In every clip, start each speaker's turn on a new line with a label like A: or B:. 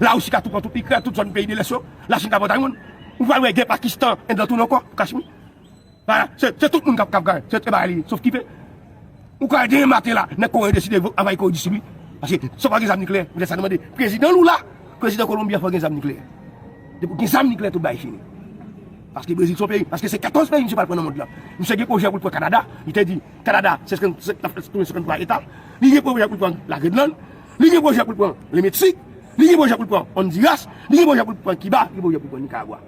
A: La Russie ka tou pran tout Ukraine, tout zòn peyi de l'Est yo, la Chine ka pran Taiwan. Ou pral wè gè Pakistan, Inde lan tou non ankò, pou Kashmir. Bagay, se, se tout moun kap kap gay, se bagay li ye, sof kipe. Ou ka wè demen maten la, nèg Kore deside anvayi Kore du Sud wi. Paske, sa pa gen zam nikleyè, men sa nou mande, prezidan Lula, prezidan Kolonbi a fò gen zam nikleyè. Depi gen zam nikleyè tout bagay fini. Paske Brezil son peyi, paske se 14 peyi misye pral pran nan mond lan. Misye gen pwojè pou l pran Kanada, li te di, Kanada se 50, se 53 eta, li gen pwojè pou l pran la Grenland, Li gen pwojè pou l pran le Meksik, li gen pwojè pou l pran Ondiras, li gen pwojè pou l pran Kiba, li gen pwojè pou l pran Nikaragwa.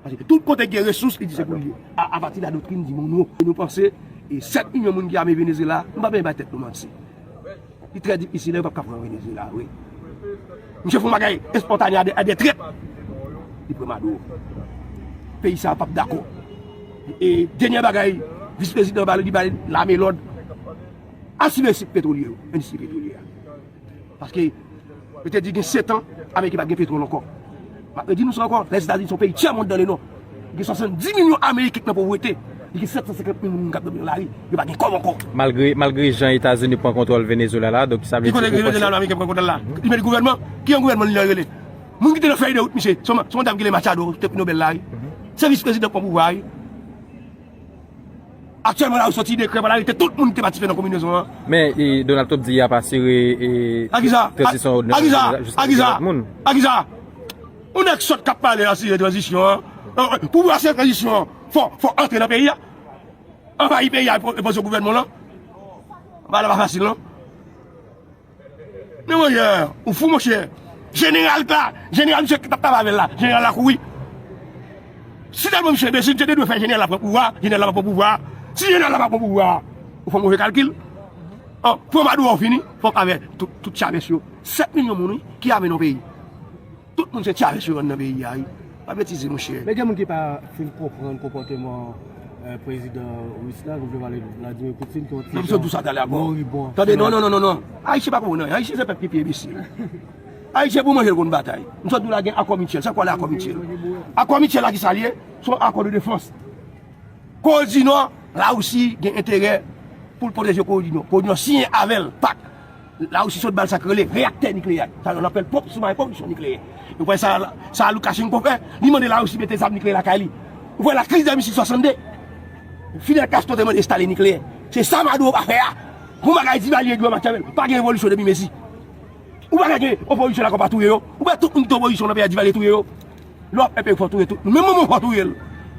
A: Pase ke tout kote ki gen resous, li di se pou l ye. A pati de la doktrin di Monwo. E nou panse, 7 milyon moun ki ame Venezyela, nou pa bezwen bay tèt nou manti. Li trè difisil, yo pap ka pran Venezyela vre. Misye fon bagay espontane a 2 trèt. Li pran Maduro. Peyi sa a pap dakò. E denyè bagay, vis prezidan ba li bay lame lòd. asire sik petwolye yo, endistri petwolye a. Paske, yo te di gen setan, Ameriken pa t gen petwòl ankò. M ap redi nou sa ankò, Lèzetazini se yon peyi tyè mond dan le nò. Li gen 70 milyon Ameriken ki nan povrete. Li gen 750 milyon moun k ap dòmi nan lari. Yo pa gen kòb ankò. Malgre, malgre jan
B: Etazini pran kontwòl Venezwela la, donk sa vle di ou panse. Ki kote Jeneral Ameriken pran
A: kontwòl la? Li mete gouvènman? Ki yon gouvènman li nan rele? Moun ki te nan fèy de wout misye, se yon dam ki rele Machado, ki te pri Nobèl la wi. Se vis prezidan k pran pouvwa a wi. Aktyèlman la yo soti dekrè pral arete tout moun ki te patisipe nan konbinezon an. Men Donald Trump
B: di y ap asire tranzisyon
A: òd nan peyi a jiska 24 moun. A kisa? Yon nèg sòt k ap pale de asire tranzisyon an. Pou ou asire tranzisyon an fò antre nan peyi a. Anvayi peyi a e poze gouvènman w lan. Bagay la pa fasil non. Men mwen ye, ou fou monchè. Jeneral la, jeneral misye tap travay avèl la, jeneral la kouri. Si tèlman misye enbesil, misye te dwe fè jeneral la pran pouvwa, jeneral la pa pran pouvwa. Si jeneral la pa pran pouvwa, ou fè move kalkil. An, pran maduro ou fini, fòk avè tout chavès yo. 7 milyon moun wi, ki ame nan yon peyi. Tout moun se tchare sou rann nan peyi a wi. Pa betize monchè. Men gen moun ki pa fin
C: konprann konpòteman prezidan Ris la, nou vle pale Vladimir Poutine ki yon ti jan Nan sòt sa talè ankò.
A: Moribon. Tande non non non non. Ayisyen pa konprann anyen. Ayisyen se pèp ki pi enbesil. Ayisyen pou manje l konn batay. M sot di w la gen akò mityèl. Sa k wè la akò mityèl? Akò mityèl la ki sa l ye? Se yon akò de defans. Kore di Nò, Larisi gen enterè pou l pwoteje Kore di Nò. Kore di Nò siyen avè l pak. La Russie sot bal sak rele reaktè nikleyè ak. Sa yon apèl pwòp soumaren pwòdiksyon nikleyè. Nou kwè sa sa Lukashenko fè, li mande La Russie mete zam nikleyè lakay li. Ou kwè la kriz de misil 62? Fidel Castro te mande estale nikleyè. Se sa Maduro pa fè a. Bon bagay Divalye di yo Machiavel, pa gen revolisyon depi Messi. Ou pa ka gen opozisyon lakò pa touye yo. Ou kwè tout moun ki te opozisyon nan peyi a Divalye touye yo? Lè wap pèpè fò touye tout moun. Menm manman w fò touye l.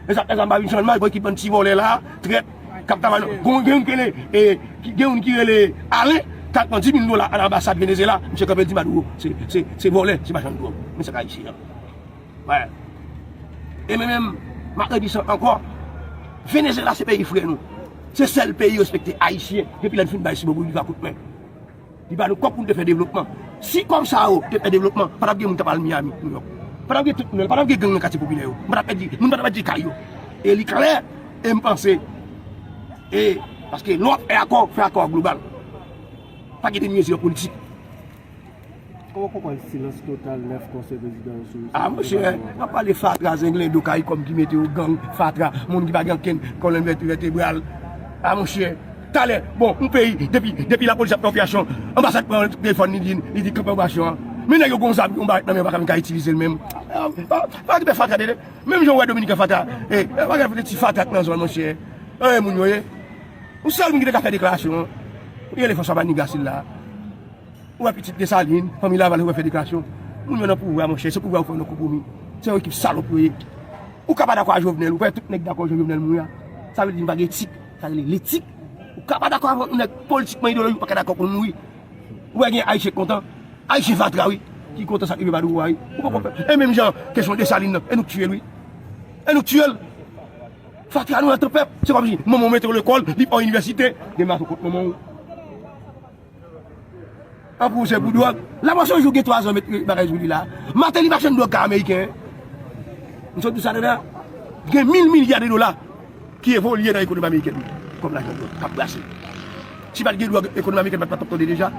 A: E sa fè sa m pa vin channmas bon ekip bann ti vòlè la, trèt, kap ta mal. Gon gen youn ki rele e gen youn ki rele Alain kal pran 10000 dola a lanbasad Venezyela, misye kanpe l di Maduro se se se vòlè, se machann dwòg. Men sa k ayisyen an. Wè. E mwen menm map redi sa ankò Venezyela se peyi frè nou. Se sèl peyi respekte ayisyen depi lè l fin bay si bòbou li va kout men. Li ba nou kòb pou nou te fè devlopman. Si kòb sa yo te fè devlopman, pa t ap gen moun k ap al Miyami, Nouyòk. Pa t ap gen tout moun, pa t ap gen gang nan katye popilè yo. Moun pa t ap pèdi, moun pa t ap pèdi kay yo. E li klè, e m panse, e paske lè w ap fè akò, fè akò global. Pa gen demi mezi an politik.
C: Kòman w konprann silans total 9 konseye prezidan yo sou dosye Koup Depatman an? A monshe,
A: wap pale fatra zenglendo karikom ki mete yo gang fatra moun ki pa gen ankenn kolonn vètebral. A monshe, talè bon yon peyi depi lapolis ap fè operasyon anbasad pran telefòn li di li di kanpe operasyon an. Men nèg yo gen yon zam yon barèt nan men yo pa menm ka itilize l menm. Pa gen pè fatra tande. Menm jan ou wè dominiken fatra e pa gen ti fatra ki nan zòn monshe. Anyen moun yo ye. Yon sèl moun ki te ka fè deklarasyon an li rele François Manigat sila. Ou wè pitit Desalin, fanmi Laval yo wè fè deklarasyon. Moun yo nan pouvwa monchè, se pouvwa yo fè yo nan koko mi. Se yon ekip salòp yo ye. Ou ka pa dakò a Jovenel, ou wè tout nèg dakò jan Jovenel mouri a. Sa vle di nou pa gen etik, sa rele letik. Ou ka pa dakò avèk yon nèg politikman ideolojik ou pa ka dakò pou l mouri. Ou wè gen Ayisyen k kontan, Ayisyen fatra wi, ki kontan sa k rive Badouro a wi. Ou poko konprann. E menm jan kesyon Desalin nan, e nou k tiye l wi. E nou k tiye l. Fatra nou nan tan pèp. Se kòmsi manman w mete w lekòl, li pa w inivèsite, gen m la sou kont manman w. An pwosè pou dwòg. Lapolis yon jou gen 3 zan met bagay sou li la. Mateli pa chenn dwòg ka ameriken. M sot di sa deja. Gen mil milya de dola ki evolye nan ekonomi ameriken. Kòm lajan dwòg kap brase. Si pat gen dwòg ekonomi ameriken pat tap tonde deja.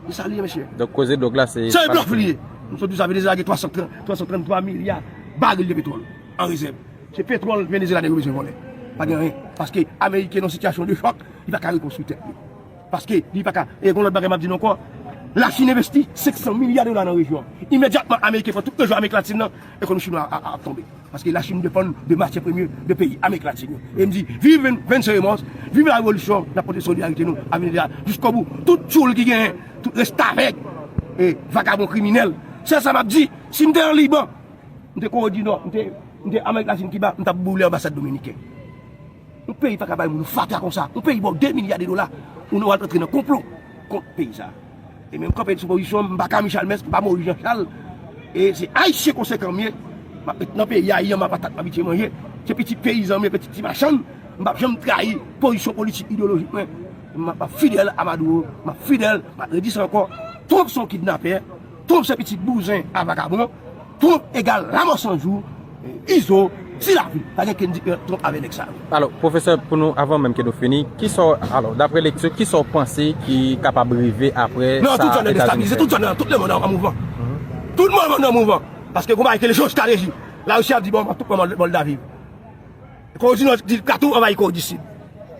A: Se sa li ye mesye. Donk koze dwòg la se.
B: Se yon blòf li ye. M
A: sot di sa Venezyela gen 333 milya baril de petwòl an rezèv. Se petwòl Venezyela nèg yo bezwen vòlè. Pa gen anyen. Paske ameriken nan sitiyasyon de chòk. Li pa ka rekonstwi tèt li. Paske li pa ka, e gon lòt bagay m ap di nou ankò, Lachin envesti 500 milya dola nan rejyon an. Imedyatman Ameriken pran tout rejyon Amerik Latin nan, ekonomi chinwa a ap tonbe. Paske Lachin depann de matyè premye de peyi Amerik Latin yo. E m di, viv Venn-Sè Remòs, viv la revolisyon, n ap pote solidarite nou a Venezyela jiskobou. Tout tyoul ki genyen, tout restavèk e vagabon kriminèl. Sèl sa m ap di, si m te an Liban, m te Kore di Nò, m te Amerik Latin, Kiba, m t ap boule anbasad dominiken. Yon peyi paka bay moun fatra konsa. Yon peyi baw 2 milya de dola ou wal antre nan konplo kont peyi sa. E menm kanpe sou pozisyon mpa Camille Chalmers mpa Maurice Jean Charles e se ayisyen konsekan m ye map ret nan peyi a yanma patat m abitye manje se pitit peyizan m ye pitit ti machann mpap janm trayi pozisyon politik ideyolojik mwen map fidèl a Maduro map fidèl map redi sa ankò Trump son kidnapè. Trump se pitit bouzen a vagabon Trump egal lamò san jou Izo di lavi pa gen ken diferans Trump avè nèg sa yo. Alò, pwofesè, pou
B: nou, avan menm ke nou fini, kisa w, alò, dapre lekti w, kisa w panse ki kapab rive apre sa Etazini fè? Nan, tout zòn nan destabilize,
A: tout zòn
B: nan,
A: tout lemonn an mouvman. Tout lemonn an mouvman. Paske gon bagay ki rele jewostrateji. Larisi ap di bon, tout pran Mòldavie. Kore di Nò di ka tou anvayi Kore di Sid.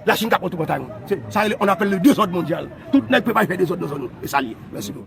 A: Lachin ka pran tou pran Taiwan. Sa rele, on appelle le dezòd mondyal. Tout nèg prepare fè dezòd nan zòn yo. E sa l ye. Mèsi.